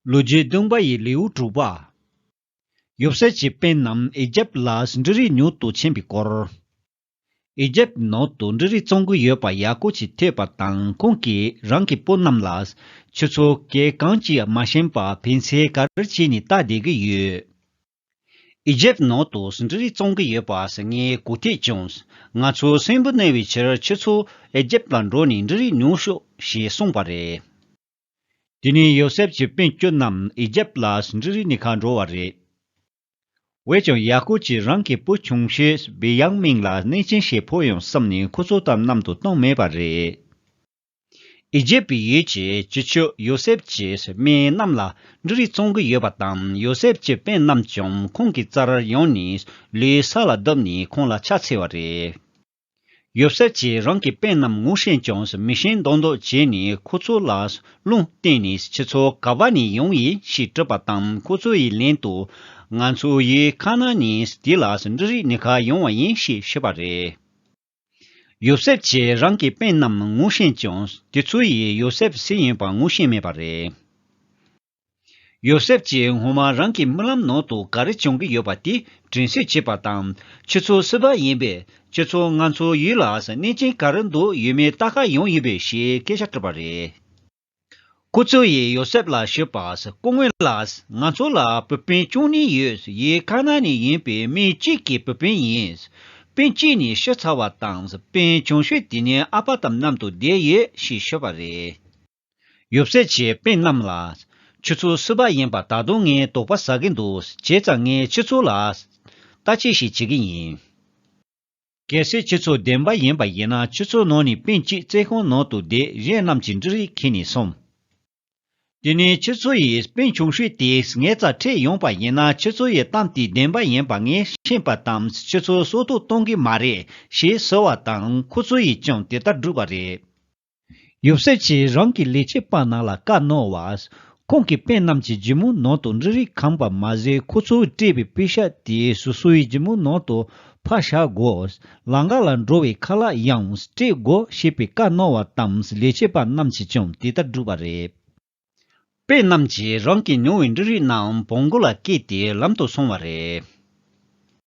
ལོ་རྒྱུས་སྟོན་པ་ཡི་ལེའུ་དྲུག་པ། ཡོབ་སྲས་ཀྱི་དཔོན་རྣམས་ཨེ་རྒྱབ་ལ་འབྲུ་རིགས་ཉོ་དུ་ཕྱིན་པའི་སྐོར། ཨེ་རྒྱབ་ནང་དུ་འབྲུ་རིགས་བཙོང་གི་ཡོད་པ་ཡ་ཀོ་ཅིས་ཐོས་པ་དང་ཁོང་གིས་རང་གི་སྤུན་རྣམས་ལ། ཁྱོད་ཚོ་གས་གང་གྱིས་མ་ཞེན་པ་ཕན་ཚེ་ག་རེ་བྱས་ནས་ལྟ་བསྡད་ཀྱི་ཡོད། ཨེ་རྒྱབ་ནང་དུ་འབྲུ་རིགས་བཙོང་གི་ཡོད་པ་ཟེར་ངའི་གོ་ཐོས་བྱུང། ང་ཚོ་སྲིན་བུ་གནས་པའི་ཕྱིར་ཁྱོད་ཚོ་ཨེ་རྒྱབ་ལ་འགྲོ་ནས་འབྲུ་རིགས་ཉོ་ཤོག་ཞེས་གསུངས་པ་རེད། དེ་ནས་ཡོ་སེབ་ཀྱི་དཔོན་སྐྱོད་རྣམས་ཨི་ཇེབ་ལ་ཟིན་རི་རི་ནི་ཁ་འགྲོ་བ་རེད། འོས་ཀྱང་ཡ་ཀོབ་ཀྱིས་རང་གི་བུ་ཆུང་ཤོས་བི་ཡང་མིན་ལ་གནས་ཆེན་ཞིག་ཕོག་ཡོང་བསམ་ནས་ཁོ་ཚོ་དམ་ནམ་དུ་བཏང་མེད་པ་རེད། ཨི་ཇེབ་པའི་ཡུལ་གྱི་སྤྱི་ཆོས་ཡོ་སེབ་ཀྱིས་མི་རྣམས་ལ་འབྲི་རིགས་གཙང་གི་ཡོད་པ་དང་ཡོ་སེབ་ཀྱི་དཔོན་རྣམས་ཀྱང་ཁོང་གི་རྩར་ཡོང་ནས་ལུས་ས་ལ་བརྡབས་ནས་ཁོང་ལ་ཕྱག་འཚལ་བ་རེད། ཡོད་ཟེར་གྱིས་རང་གི་དཔེ་རྣམས་ངོ་ཤེས་ཀྱང་མི་ཤེས་མདོག་མདོག་བྱས་ནས་ཁོ་ཚོ་ལ་རླུང་བསྟན་ནས་ཁྱེད་ཚོ་ག་བ་ནས་ཡོང་ཡིན་ཞེས་དྲིས་པ་དང་ཁོ་ཚོ་ཡི་ལན་དུ། ང་ཚོ་ཡི་ཁ་ན་ནས་འདི་ལ་འབྲུ་རིགས་ནི་ག་ཡོང་བ་ཡིན་ཞེས་བཤད་པ་རེད། ཡོད་ཟེར་གྱིས་རང་གི་དཔེ་རྣམས་ངོ་ཤེས་ཀྱང་དེ་ཚོ་ཡི་ཡོད་ཟེར་བསིལ་ཡིན་པ་ངོ་ཤེས་མེད་པ་རེད། ཡོ་སེབ་ཀྱིས་ངོ་མ་རང་གི་རྨི་ལམ་ནང་དུ་ག་རེ་བྱུང་གི་ཡོད་པ་དེ་དྲན་གསོས་བྱེད་པ་དང། ཁྱོད་ཚོ་སུ་བ་ཡིན་པས་ཁྱོད་ཚོ་ང་ཚོའི་ཡུལ་ལ་གནས་ཆེན་ག་རེ་འདུག་ཡོད་མེད་བལྟ་ཁ་ཡོང་ཡིན་པས་ཞེས་སྐད་ཆ་དྲིས་པ་རེད། སྐུ་ཚོ་ཡིས་ཡོ་སེབ་ལ་ཤོད་པ་སྐུ་ངོས་ལ་ང་ཚོ་ལ་བུ་སྤུན་བཅུ་གཉིས་ཡོད་ཡིན་ཁ་ན་ནས་ཡིན་པས་སྨི་གཅིག་གི་བུ་སྤུན་ཡིན། སྤུན་གཅིག་ནི་ཤོད་ཚར་བ་དང་སྤུན་ཆུང་ཤོས་དེ་ནི་ཨ་ཕ་དམ་གནམ་དུ་བསྡད་ཡོད་ཞེས་ཤོད་པ་རེད། ཡོད། ཟས་བཅད་པའི་རྣམས་ལ། ཆུ་ཚོད་གསུམ་པ་ཡིན་པ་ད་དུང་ངས་དོགས་པ་ཟ་གི་འདུག་བྱས་ཙང་ངས་ཆུ་ཚོད་ལ། ལྟ་ཅི་ཞིག་བྱེད་ཀྱི་ཡིན། གལ་སྲིད་ཆུ་ཚོད་བདེན་པ་ཡིན་པ་ཡིན་ན་ཆུ་ཚོད་ནང་ནས་པིན་གཅིག་རྩེ་ཁང་ནང་དུ་བསྡད་གཞན་རྣམས་ཀྱི་འབྲུ་རིགས་ཁྱེར་ནས་སོང། དེ་ནས་ཆུ་ཚོད་ཡི་པིན་ཆུང་ཤོས་དེས་ངའི་རྩར་ཁྲིད་ཡོང་པ་ཡིན་ན་ཆུ་ཚོད་ཡི་གཏམ་དེ་བདེན་པ་ཡིན་པ་ངས་ཤེས་པ་དང་ཆུ་ཚོད་སྲོག་ཐོག་གཏོང་གི་མ་རེད་ཞེས་ཟེར་བ་དང་ཁོ་ཚོ་ཡིས་ཀྱང་དེ་ལྟར་བསྒྲུབས་པ་རེད། ཡོབ་སྲས་ཀྱིས་རང་གི་ལས་བྱེད་པ་རྣམས་ལ་བཀའ་གནང་བ། ཁོང་གི་དཔོན་རྣམས་ཀྱིས་སྒྱི་མོ་ནང་དུ་འབྲུ་རིགས་གང་བ་མ་ཟད་ཁོ་ཚོས་སྤྲད་པའི་པུས་ཤ་དེ་སོ་སོའི་སྒྱི་མོའི་ནང་དུ་ཕར་བཞག་གོ། ལང་ཀ་ལ་འགྲོ་བའི་ཁ་ལག་ཡང་སྤྲད་གོ་ཞེས་པའི་བཀའ་གནང་བ་དང་ལས་བྱེད་པ་རྣམས་ཀྱིས་ཀྱང་དེ་ལྟར་བསྒྲུབས་པ་རེད། དཔོན་རྣམས་ཀྱིས་རང་གིས་ཉོ་བའི་འབྲུ་རིགས་རྣམས་བོང་གུ་ལ་བཀལ་ཏེ་ལམ་དུ་སོང་བ་རེད།